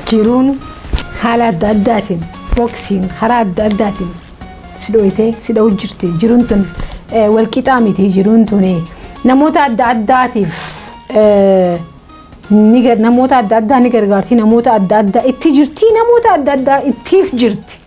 jiruun haala adda addaatiin boksiin karaa adda addaatiin si dhooytee si dha'u jirti jiruun tun eh, wal qixaa miti jiruun tun eh, namoota adda addaatiif eh, ni gar- namoota adda addaa ni gargaarti namoota adda addaa itti jirti namoota adda addaa ittiif jirti.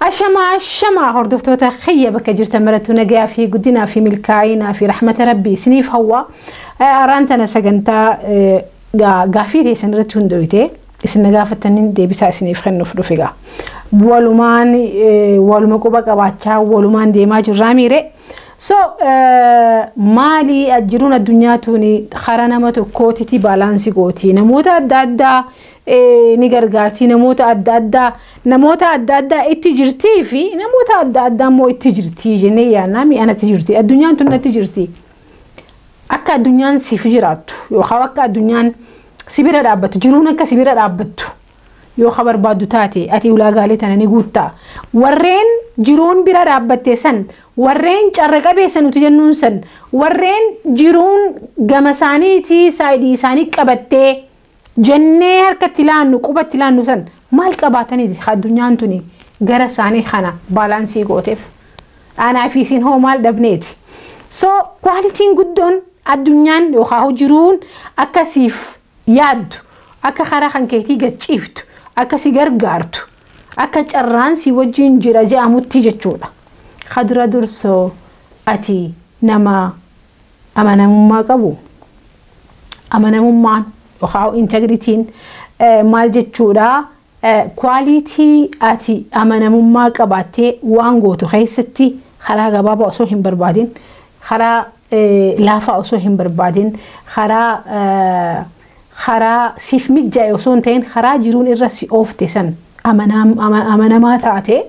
Ashamaa ashamaa hordoftoota kiyya bakka jirtan marattuu nagayaa fi guddinaa fi milkaa'inaa fi rahmata rabbii isiniif hawwa. Araan tana sagantaa eh, gaa- gaafii teessan irratti hundooyte isin na gaafattaniin deebisaa isiniif kennuuf dhufe gaa. Walumaan eh, waluma quba qabaachaa walumaan deemaa jirraa miire So maali jiruun addunyaa tuuni karaa nama tokkootiti baalaansi gooti. Namoota adda addaa ni gargaarti. Namoota adda addaa namoota adda addaa itti jirtii fi namoota adda addaa immoo itti jirtii jennee yaadnaa mi'a natti jirti. Addunyaan tun natti jirti. Akka addunyaan siif jiraattu yookaan akka addunyaan si bira dhaabbattu jiruun akka si bira dhaabbattu yoo ka barbaaddu taate ati ulaagaalee tana ni guutta. Warreen jiruun bira dhaabbatte san, warreen carra qabeessa nuti jennuun san, warreen jiruun gama isaaniitii saayidii isaanii qabattee jennee harkatti laannu qubatti laannu san maal qabaataniiti ka addunyaan tuni gara isaanii kana baalaansii gooteef. Aanaa fi isin hoo maal dhabneeti. So kwaalitiin guddoon addunyaan yookaan jiruun akkasiif yaaddu, akka karaa kan keetii gad ciiftu, akka si gargaartu, akka carraan si wajjin jira je'amutti jechuudha. Ka dura dursoo ati nama amanamummaa qabu? Amanamummaan yookaan integritiin maal jechuudha? Quality ati amanamummaa qabaattee waan gootu keessatti karaa gabaabaa osoo hin barbaadin karaa laafaa osoo hin barbaadin karaa karaa siif mijjaa'e osoo hin ta'in karaa jiruun irra si oofte san amanamaa taate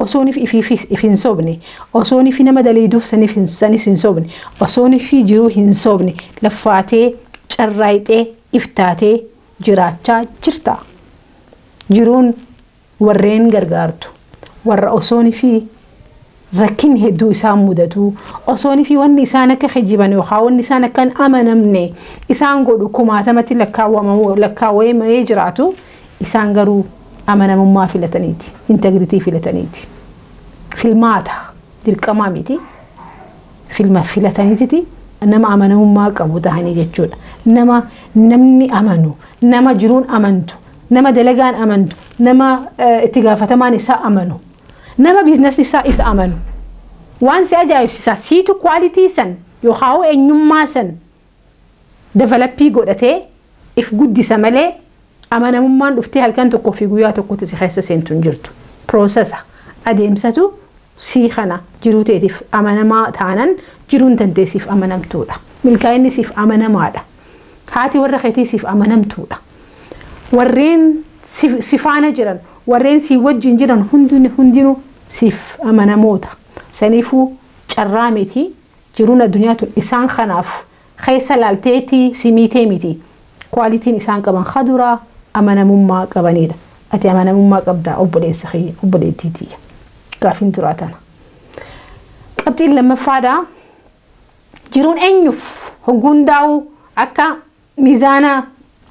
osoonif ifiifis if hin sobne osoonifi nama daliiduuf sanis hin sobne osoonifi jiruu hin sobne laffaatee carraayxee if taatee jiraachaa jirta jiruun Warreen gargaartu, warra osoonifi rakkinni hedduu isaan mudatu, osoonifi wanni isaan akka kijiban yookaan wanni isaan akka hin amanamne isaan godhu kumaatamatti lakkaawwamamu- lakkaawwamee jiraatu, isaan garuu amanamummaa filataniiti, integrity filataniiti. Filmaata, dirqamaa miti, filma filataniititi nama amanamummaa qabu tahanii jechuudha. Nama namni amanu, nama jiruun amantu, Nama dalagaan amantu, nama itti gaafatamaan isaa amanu, nama biiznasni isaa isa amanu. Waan si ajaa'ibsiisaa siitu quality san yookaawuu eenyummaa san developii godhatee if guddisa malee amanamummaan dhuftee halkan tokkoo fi guyyaa tokkotti si keessa seentu hin jirtu. Processa, adeemsatu sii kana jiruu teetiif amanamaa taanan jiruun tantee siif amanamtuudha. Milkaa'inni siif amanamaadha. Haati warra keetii siif amanamtuudha. Warreen si faana jiran, warreen sii wajjin jiran hundinuu siif amanamoota. Saniifuu carraa miti jiruun addunyaa tun isaan kanaaf keessa laalteetii si miitee miti. Quality'n isaan qaban ka duraa amanamummaa qabaniidha. Ati amanamummaa qabdaa obboleessa kiyya, obboleettii tiyya. Gaaffiin duraa tana. Qabxiin lammaffaadha. Jiruun eenyuuf hogguu hundaa'uu akka miizaana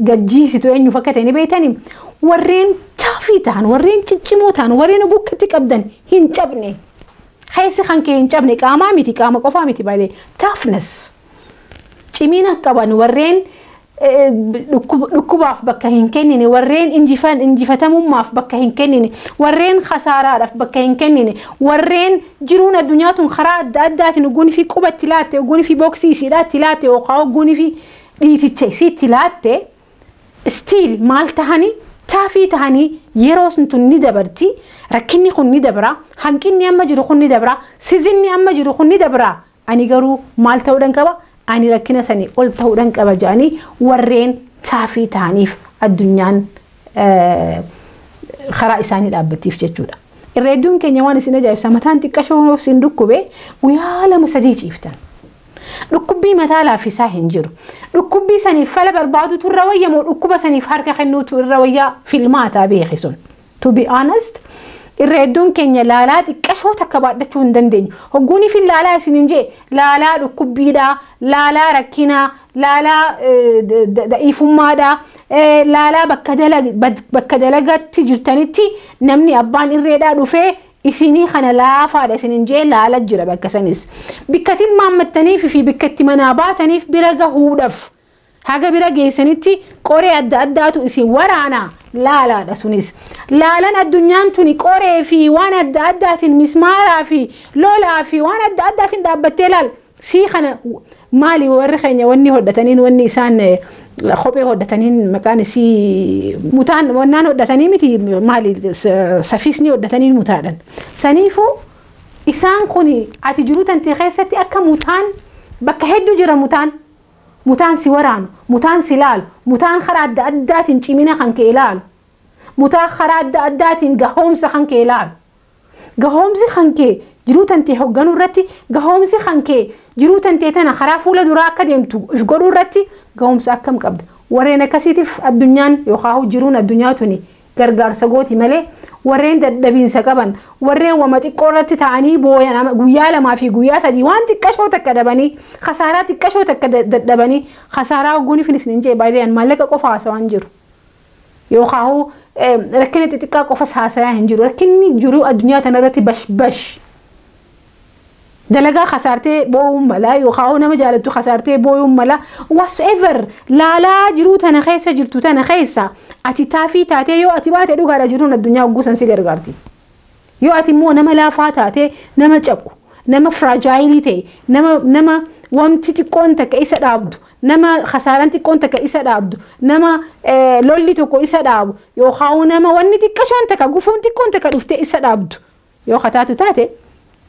gad jiisitu eenyuuf akka ta'e ni beektanii? Warreen taafii ta'an, warreen ciccimoo ta'an, warreen hogguu akka itti qabdan hin cabne. Keessi kan kee hin cabne qaamaa miti, qaama qofaa miti baay'ee. Toughness. Cimina qaban warreen dhukkubaaf bakka hin kennine, warreen injifatamummaaf bakka hin kennine, warreen kasaaraadhaaf bakka hin kennine, warreen jiruun addunyaa tun karaa adda addaatiin uguun fi quba itti laatte, uguun fi booksii isiidhaa itti laatte yookaan uguun fi dhiiticha isii itti laatte, stiil maal tahanii taafii tahanii yeroo tun ni dabarti, rakkinni kun ni dabra, hanqinni amma jiru kun ni dabra, sizinni amma jiru kun ni dabra Ani garuu maal ta'uudhan qaba? Ani rakkina sanii ol ta'uudhan qaba jedhanii warreen taafii ta'aniif addunyaan karaa isaanii dhaabbattiif jechuudha. Irra hedduun keenya waan isin ajaa'ibsa mataan xiqqashoo yoo isin dhukkube guyyaa lama sadii ciiftan. Dhukkubbii mataa laaffisaa hin jiru. Dhukkubbii saniif fala barbaadutu irra wayya moo dhukkuba saniif harka kennuutu irra wayyaa filmaataa beeki sun. To be honest, irra hedduun keenya laalaa xiqqashoo takka baadhachuu hin dandeenyu. Hogguuniif hin laalaa isin hin jee, laalaa dhukkubbiidhaa, laalaa rakkinaa, laalaa da'iifummaadhaa, laalaa bakka dalagatti jirtanitti namni abbaan irreedhaa dhufee isinii kana laafaadha isin hin jee laala jira bakka sanis. Bikka tilmaammattaniif fi bikka itti manaa baataniif bira gahuudhaf. Haga bira geessanitti qoree adda addaatu isin waraana. Laalaadha sunis. Laalan addunyaan tuni qoree fi waan adda addaatiin mismaaraa fi lolaa fi waan adda addaatiin dhaabbattee laal. Sii kana maali warri keenya wanni hodhataniin wanni isaan kophee hodhataniin maqaan isii mutaan wannaan hodhatanii miti maali safiisni hodhataniin mutaadhan. Saniifuu isaan kun ati jiruu tantee keessatti akka mutaan bakka hedduu jira mutaan. Mutaan si waraanu, mutaan si laalu, mutaan karaa adda addaatiin cimina kan kee laalu, mutaa karaa adda addaatiin gahoomsa kan kee laalu. Gahoomsi kan kee jiruu tantee hogganuu irratti, gahoomsi kan kee jiruu tantee tana karaa fuula duraa akka deemtu if godhuu irratti gahoomsa akkam qabda? Warreen akkasiitiif addunyaan yookaa jiruun addunyaa tuni gargaarsa gooti malee warreen dadhabiinsa qaban warreen wama xiqqoo irratti ta'anii booyan ama- guyyaa lamaa fi guyyaa sadii waan xiqqashoo takka dhabanii kasaaraa xiqqashoo takka da- dadhabanii kasaaraa hogguun ifin isin hin jee baay'ee an maallaqa qofa haasawaa hin jiru yookaahuu eh, rakkina xixiqqaa qofas haasayaa hin jiru rakkinni jiruu addunyaa tanarratti bash bash dalagaa kasaartee boo'uun mala yookaan hoo nama jaalattu kasaartee boo'uun mala whatsoever laalaa jiruu tana keessa jirtu tana keessa ati taafii taatee yoo ati baate dhugaadha jiruun addunyaa ogguusan si gargaarti. Yoo ati immoo nama laafaa taatee nama cabu nama firaajaayiilii ta'e nama nama wamti xiqqoon takka isa dhaabdu nama kasaaraan xiqqoon takka isa dhaabdu nama lolli tokko isa dhaabu yookaan nama wanni xiqqashoon takka gufuun xiqqoon takka dhuftee isa dhaabdu. Yoo ka taatu taate,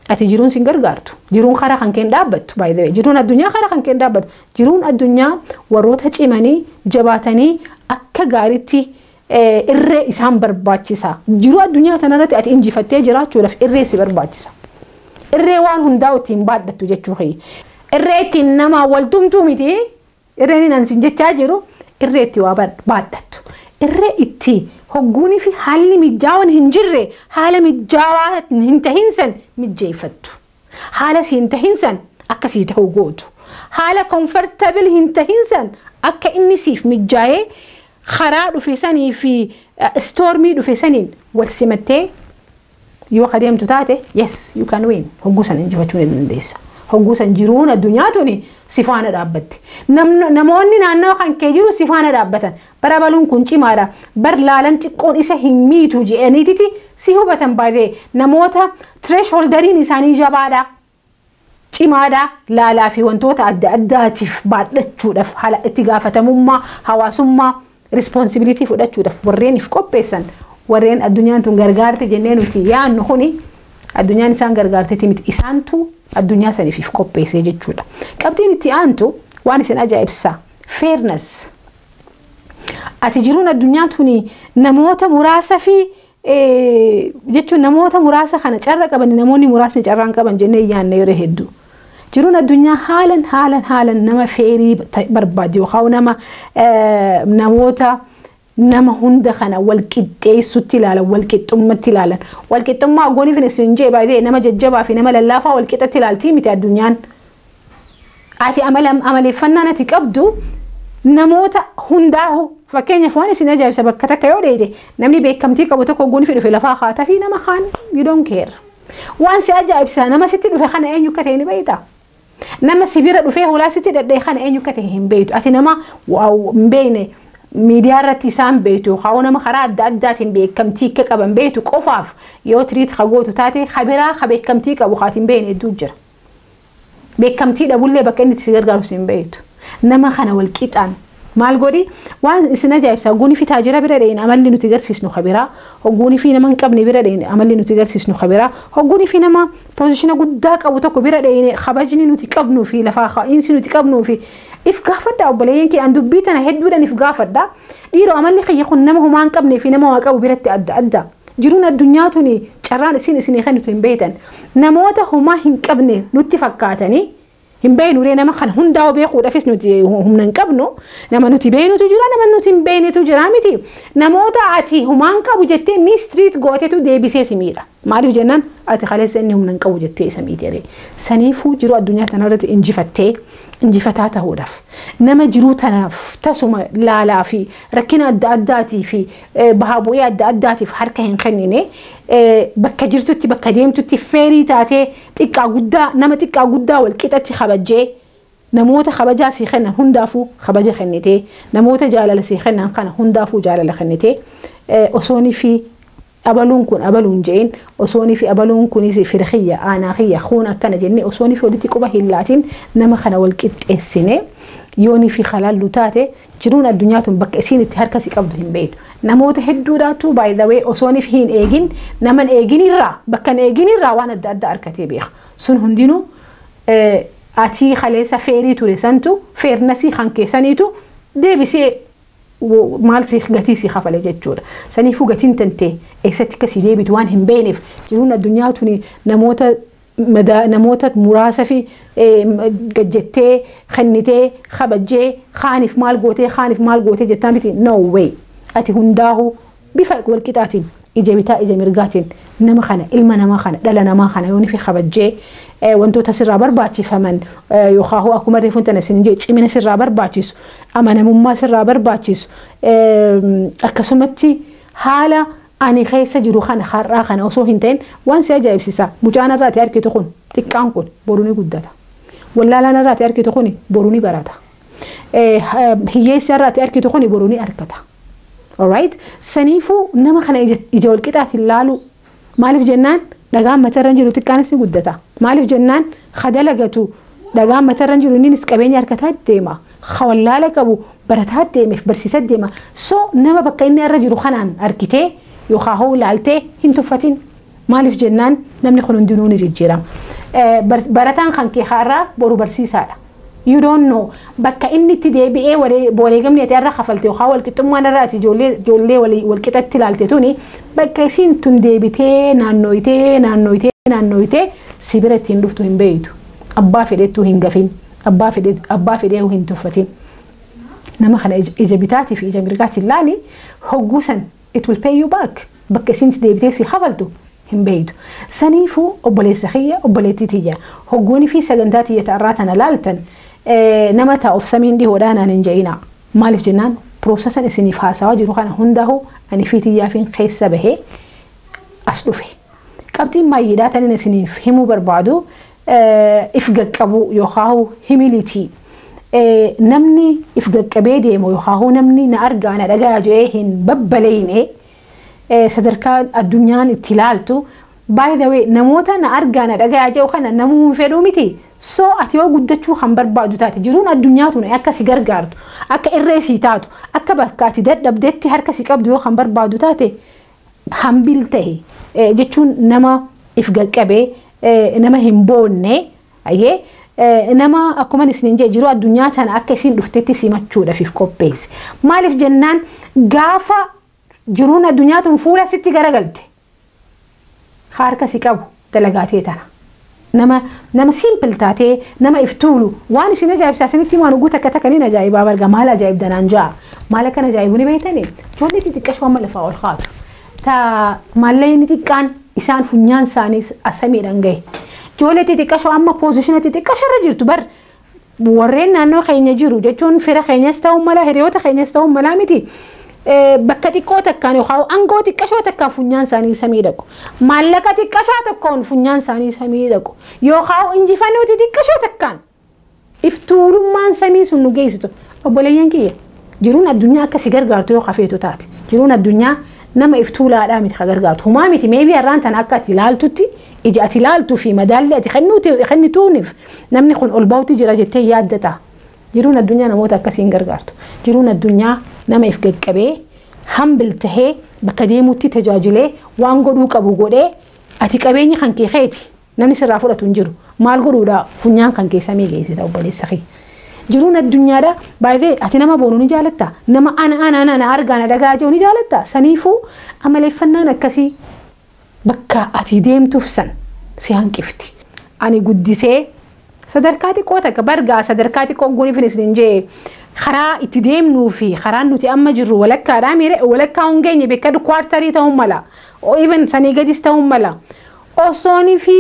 ati jiruun sin gargaartu. Jiruun kara kan keen dhaabbattu by the way. Jiruun addunyaa kara kan keen dhaabbattu. Jiruun addunyaa warroota cimanii, jabaatanii akka gaariitti irree isaan barbaachisa. Jiruu addunyaa tana irratti ati injifattee jiraachuudhaaf irree si barbaachisa. Irree waan hundaa ittiin baadhattu jechuu kiyya. Irree ittiin namaan wal tumtu miti. Irreen an sin jechaa jiru irree itti waa baadhattu. Irree itti hogguunii fi haalli mijjaawan hin jirre haala mijjaawaa hin tahin san mijjeeffattu. Haala si hin tahin san akka sii tahu gootu. Haala comfortable hin tahin san akka inni siif mijjaayee karaa dhufe sanii fi stormii dhufe saniin wal simattee Yoo ka deemtu taate yes you can win hogguu san injifachuu ni dandeessa. Hogguu san jiruun addunyaa tuni si faana dhaabbatti. Namno- Namoonni naannawa kan kee jiru si faana dhaabbatan. Bara baluun kun cimaadha. Bar laalan xiqqoon isa hin miitu jedhaniititi si hubatan baay'ee. Namoota thresholderiin isaanii jabaadha. cimaadha, laalaa fi wantoota adda addaatiif baadhachuudhaf hala itti gaafatamummaa hawaasummaa, responsibility, fudhachuudhaf warreen if qopheessan, warreen addunyaan tun gargaarte jennee nuti yaannu kuni addunyaan isaan gargaarteti miti, isaantu addunyaa saniif if qopheessee jechuudha. Qabxiin itti aantu waan isin ajaa'ibsa, fairness. Ati jiruun addunyaa tuni namoota muraasa fi jechuun namoota muraasa kana carra qaban namoonni muraasni carraan qaban jennee yaanna yeroo hedduu. Jiruun addunyaa haalan haalan haalan nama feerii barbaaddi yookaan nama namoota nama hunda kana wal qixxeessutti ilaalan wal qixxummatti ilaalan wal qixxummaa gooniif isin jee baay'ee nama jajjabaa fi nama lallaafaa wal qixatti ilaaltii miti addunyaan. ati amala amaleeffannaan ati qabdu namoota hundaahu fakkeenyaaf waan isin ajaa'ibsa bakka takka yoo dheeyde namni beekamtii qabu tokko guun fi dhufe lafaa kaata fi nama kaan you don't care waan si ajaa'ibsa nama sitti dhufe kana eenyu akka ta'e ni beeyta nama si bira dhufee hulaa sitti dhadhee kana eenyu akka ta'e hin beeytu ati nama waaw hin beeyne miidiyaa irratti isaan beeytu kaa'oo nama karaa adda addaatiin beekamtii akka qaban beeytu qofaaf yoo tiriit ka gootu taate ka biraa ka beekamtii qabu kaati hin beeyne hedduu jira. Beekamtii dhabullee bakka inni itti si gargaaru si hin beektu. Nama kana wal qixaan maal godhi waan isin ajaa'ibsaa guunifii taajira bira dhayne amalli nuti garsiisnu kabiraa hogguunifii nama hin qabne bira dhayne amalli nuti garsiisnu kabiraa hogguunifii nama poozishina guddaa qabu tokko bira dhayne kabajni nuti qabnuu fi lafaa ka'iinsi nuti qabnuu fi if gaafadha obboleeyyan kee an dubbii tana hedduudhaan if gaafadha dhiiroo amalli kiyya kun nama homaa hin qabnee fi nama waa qabu biratti adda adda jiruun addunyaa tuni carraan isin isinii kennitu hin beektan Namoota homaa hin qabne nutti fakkaatanii hin beeknu ree nama kana hundaa'uu beekuudhaafis nuti humna hin qabnu nama nuti beeknutu jira nama nuti hin beeknetu jira miti namoota ati humaan qabu jettee miistiriit gootetu deebisee si miidha maaliif jennaan ati kaleessa inni humna hin qabu jettee isa miite ree saniifuu jiruu addunyaa tanarratti injifattee injifataa ta'uudhaaf nama jiruu tanaaf tasuma laalaa fi rakkina adda addaatii fi bahaa bu'ii adda addaatiif harka hin kennine bakka jirtutti bakka deemtutti feerii taatee xiqqaa guddaa nama xiqqaa guddaa wal qixatti kabajjee namoota kabajaa sii kennan hundaafuu kabaja kennitee namoota jaalala sii kennan kana hundaafuu jaalala kennitee osoonii fi abaluun kun abaluun je'in osoonii fi abaluun kunis fira kiyya aanaa kiyya kun akkana jennee osoonii fi walitti quba hin laatiin nama kana wal qixxeessine yoonii fi halaallu taate Jiruun addunyaa tun bakka isiin itti harka si qabdu hin beeytu. Namoota hedduudhaatu by the way osoon if hiin eegin naman eegin irraa bakka hin eegin irraa waan adda addaa arkatee beeka. Sun hundinuu atii kaleessa feerii ture santu feernasii kan kee saniitu deebisee maal si gatii si kafale jechuudha. Saniifuu gatiin tantee eessatti akka si deebitu waan hin beeyneef jiruun addunyaa tuni namoota madaa namoota muraasafi gad jettee kennitee kabajjee kaanif maal gootee kaanif maal gootee jettaa miti no way ati hundaahu bifa wal qixaatiin ija bitaa ija mirgaatiin nama kana ilma namaa kana dhala namaa kana yoonifi kabajjee wantoota sirraa barbaachifaman yookaahu akkuma reefun tana isin jee cimina sirraa barbaachisu amanamummaa sirraa barbaachisu akkasumatti haala Ani keessa jiru kana har'aa kana osoo hin ta'in waan si ajaa'ibsisa mucaan har'a ati arkitu kun xiqqaan kun boru ni guddata. Wallaalaan har'a ati arkitu kuni boru ni barata. Hiyyeessi har'a ati arkitu kuni boru ni argata. Alright? Saniifuu nama kana ija wal qixaatiin laaluu. Maaliif jennaan dhagaan matarra jiru xiqqaanis ni guddata. Maaliif jennaan ka dalagatu dhagaan matarra jiru inninis qabeenya argataa deema. ka wallaala qabu barataa deemeef barsiisa deema so nama bakka inni irra jiru kanaan argitee yookaan hoo ilaaltee hin tuffatin maaliif jennaan namni kun hundinuu ni jijjiirama Eh, bar- barataan kan kee har'aa boru barsiisaadha you don't know bakka inni itti deebi'ee waree- wareegamni ati irra kafalte yookaan walqixxummaan irra ati ijoollee ijoollee walii- walqixatti ilaalte tuni bakka isiin tun deebitee naannooyitee naannooyitee naannooyitee si bira ittiin dhuftu hin beektu abbaa fedhettuu hin gafin Abbaa fedhe abbaa fedheehu hin tuffatin. Nama kana ija ija bitaatii fi ija mirgaatiin laali. Hogguu san it will pay you back. Bakka isiin itti deebitee si kafaltu hin beeytu. Saniifuu obboleessa kiyya obboleettii tiyya hogguunii fi sagantaa tiyya ta arraa tana laaltan nama ta of samiin dhihoodhaa naan hin ja'inaa. Maaliif jennaan prosesan isiniif haasawaa jiru kana hundaahu ani fi tiyyaafiin keessa bahee as dhufe. Qabxiin maayyiidhaa tanin isiniif himuu barbaadu if gaqqabuu yookaahu humility namni if gaqqabee deemu yookaahu namni na argaa na dhagaya jedhee hin babbaleyne sadarkaa addunyaan itti ilaaltu by the way namoota na argaa na dhagaya jedhu kana namuu hin fedhuu miti so ati yoo guddachuu kan barbaadu taate jiruun addunyaa tun akka si gargaartu akka irree si taatu akka bakka ati dadhabdetti harka si qabdu yoo kan barbaadu taate Humble tahi jechuun nama if gaqqabe, nama hin boonne, ayyee, nama akkuman isiniin jedhe jiruu addunyaa tana akka isiin dhuftetti simachuudhaaf if qopheessi. Maaliif jennaan gaafa jiruun addunyaa tun fuula sitti garagalte ka harka si qabu, dalagaa tee tana. Nama nama simple taatee nama if tuulu waan isin ajaa'ibsaa isinitti himaa hogguu takka takka nin ajaa'ibaa barga maal ajaa'ibda naan ja'a maal akkan ajaa'ibu ni beeytani ijoollee xixiqqasho amma lafaa ol kaatu ta maallayni xiqqaan isaan funyaan isaanii asamiidhaan gahe ijoollee xixiqqasho amma poozishina xixiqqasho irra jirtu bar Warreen naannoo keenya jiru jechuun fira keenyas ta'uu mala hiriyoota keenyas ta'uu malaa miti bakka xiqqoo takkaan yookaan aangoo xiqqashoo takkaan funyaan isaanii samii dhaqu. Maallaqa xiqqashaa tokkoon funyaan isaanii samii dhaqu. Yookaan injifannoo xixiqqashoo takkaan iftuulummaan samii sun nu geessitu. Obboleeyyan kiyya. Jiruun addunyaa akka si gargaartu yoo ka feetu taate, jiruun addunyaa nama if tuulaadhaa miti ka gargaartu. Humaa miti maybe har'aan tana akka ati ilaaltutti, ija ati ilaaltuu fi madaallii ati kennuuti, kennituunif namni kun ol bahutti jira jettee hin yaadda ta'a. Jiruun addunyaa namoota akkasii hin gargaartu. Jiruun addunyaa nama if gad qabee, humble tahee, bakka deemutti tajaajilee, waan godhuu qabu godhee, ati qabeenyi kan kee keeti. Namni sirraa fudhatu hin jiru. Maal godhuudha funyaan kan keessa mee geessita obboleessa kee. Jiruun addunyaadha baay'ee ati nama boonu ni jaalatta. Nama ana ana ana ana argaa na dhagaa jiru ni jaalatta. Saniifuu amaleeffannaan akkasii bakka ati deemtuuf san si hanqifti. Ani guddisee sadarkaa xiqqoo takka bargaa sadarkaa xiqqoo guunifin isin jee karaa itti deemnuu fi karaan nuti amma jirru walakkaadhaa miire walakkaa hin geenye beekadhu kwaartarii ta'uu mala. Even sanii gadis ta'uu mala. Osooni fi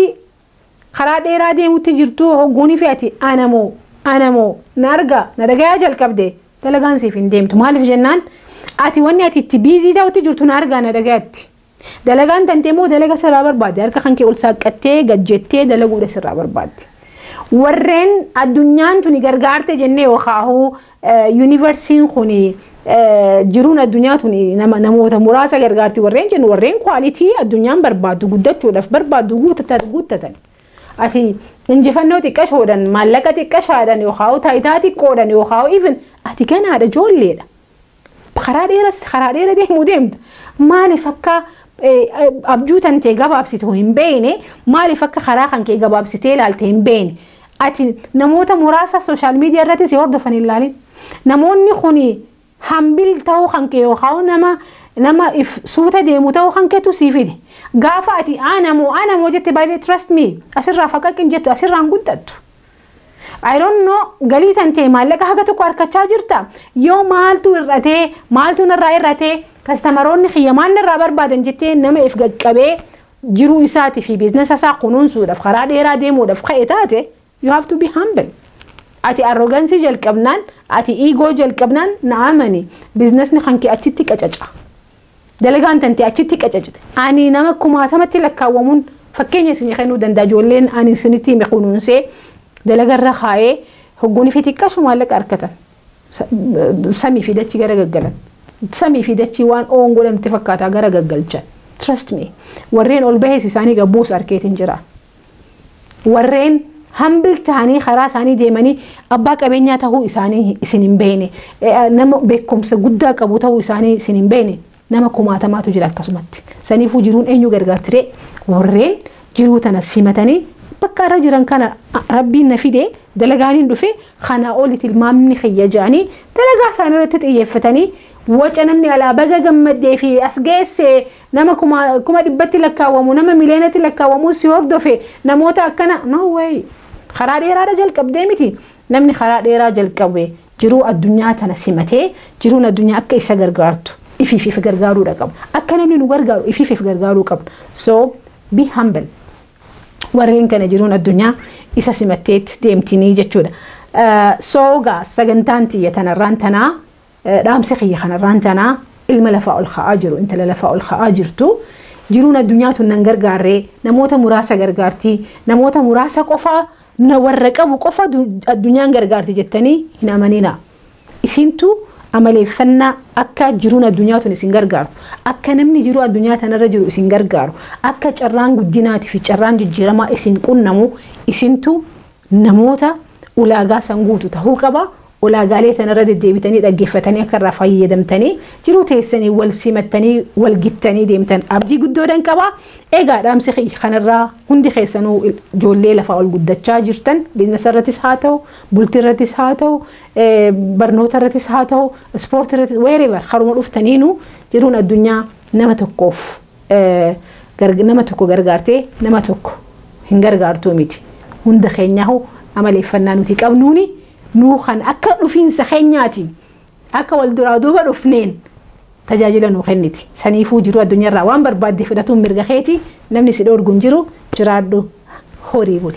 karaa dheeraa deemutti jirtuu hogguuni fi ati ana moo ana moo na argaa na dhagayaa jalqabde dalagaan siif hin deemtu maaliif jennaan ati wanni ati itti biizii ta'utti jirtu na argaa na dhagayatti dalagaan tantee moo dalaga sirraa barbaadde harka kan kee ol saaqqattee gad jettee dalaguudha sirraa barbaadde warreen addunyaan tuni gargaarte jennee yookaahuu Yuunivarsiin kun jiruun addunyaa tun namoota muraasa gargaarti warreen jennu warreen kwaalitii addunyaan barbaaddu guddachuudhaaf barbaaddu guuttatan. Ati injifannoo xiqqashoodhan maallaqa xiqqashaadhan yookaan taayitaa xiqqoodhan yookaan even ati ganaadha ijoolleedha. Karaa dheera karaa dheera deemuu deemta. Maaliif akka abjuu tantee gabaabsitu hin beekne maaliif akka karaa kan kee gabaabsitee ilaalte hin beekne. Ati namoota muraasa social media irratti si hordofan hin laalin. Namoonni kuni hambil ta'uu kan kee yookaan nama nama if suuta deemu ta'uu kan keetu sii fide. Gaafa ati ana moo ana moo jette by the trust me asirraa faqaqin jettu asirraa hin guddattu. I don't know galii tantee maallaqa haga tokko harkachaa jirta yoo maaltu hir'atee maaltu narraa hir'atee kastamaroonni kiyya maal narraa barbaadan jettee nama if gaqqabee jiruu isaati fi biiznasa isaa kunuunsuudhaaf karaa dheeraa deemuudhaaf ka'e taate you have to be humble. Ati arrogansii jalqabnaan, ati iigoo jalqabnaan na amani biiznasni kan kee achitti qacaca. Dalagaan tantee achitti qacacti. Ani nama kumaatamatti lakkaawwamuun fakkeenya isinii kennuu danda'a ijoolleen ani isinitti hime kunuunsee dalagarra kaa'ee hogguun fi xiqqaashu maallaqa argatan. Samii fi dachii gara gaggalan. Samii fi dachii waan oon godhan itti fakkaataa gara gaggalchan. Trust me. Warreen ol bahees isaanii gabbuus arkeetiin jira. Warreen humble tahanii karaa isaanii deemanii abbaa qabeenyaa tahuu isaanii isin hin beekne. Nama beekumsa guddaa qabu tahuu isaanii isin hin beekne. Nama kumaatamaatu jira akkasumatti. Saniifuu jiruun eenyu gargaartiree? Warreen jiruu tana simatanii bakka irra jiran kana rabbiin na fide dalagaaniin dhufe kanaa oli tilmaamni kiyya jedhanii dalagaa isaanii irratti xiyyeeffatanii waca namni alaa baga gammaddee fi as geesse nama kuma kuma dhibbatti lakkaawwamu nama miliyoonatti lakkaawwamu si hordofe namoota akkana no way karaa dheeraadha jalqabdee miti namni karaa dheeraa jalqabe Jiruu addunyaa tana simatee jiruun addunyaa akka isa gargaartu ifiif if gargaaruudha qabna. Akka namni nu gargaaru ifiif if gargaaruu qabna. So be humble. Warreen kana jiruun addunyaa isa simatteetti deemtinii jechuudha. So gaa sagantaan tiyya tanarraan tanaa dhaamsi kiyya kanarraan tanaa ilma lafaa ol ka'aa jiru intala lafaa ol ka'aa jirtu jiruun addunyaa tun nan gargaarree namoota muraasa gargaartii namoota muraasa qofaa Humna warra qabu qofa addunyaan gargaarti jettanii hin amaninaa. Isintu amaleeffannaa akka jiruun addunyaa tun isin gargaartu, akka namni jiruu addunyaa tanarra jiru isin gargaaru, akka carraan guddinaatii fi carraan jijjiiramaa isin qunnamu isintu namoota ulaagaa san guutu tahuu qaba. Ulaagaalee tana irra deddeebitanii dhaggeeffatanii akka irraa fayyadamtanii jiruu teessanii wal simattanii wal gittanii deemtan abdii guddoodhan qaba. Egaa dhaamsi kiyya kanarraa hundi keessanuu ijoollee lafaa ol guddachaa jirtan biiznasa irrattis haa ta'u, bultii irrattis haa ta'u, barnoota irrattis haa ta'u, ispoortii irrattis wherever karuma dhuftaniinuu jiruun addunyaa nama tokkoof nama tokko gargaartee nama tokko hin gargaartuu miti. Hunda keenyaahuu amaleeffannaa nuti qabnuuni nuu kan akka dhufiinsa keenyaatiin akka wal duraa duuba dhufneen tajaajila nuu kenniti. Saniifuu jiruu addunyaarraa waan barbaadde fudhatuun mirga keeti namni si dhoorgu hin jiru jiraadhu horii buli.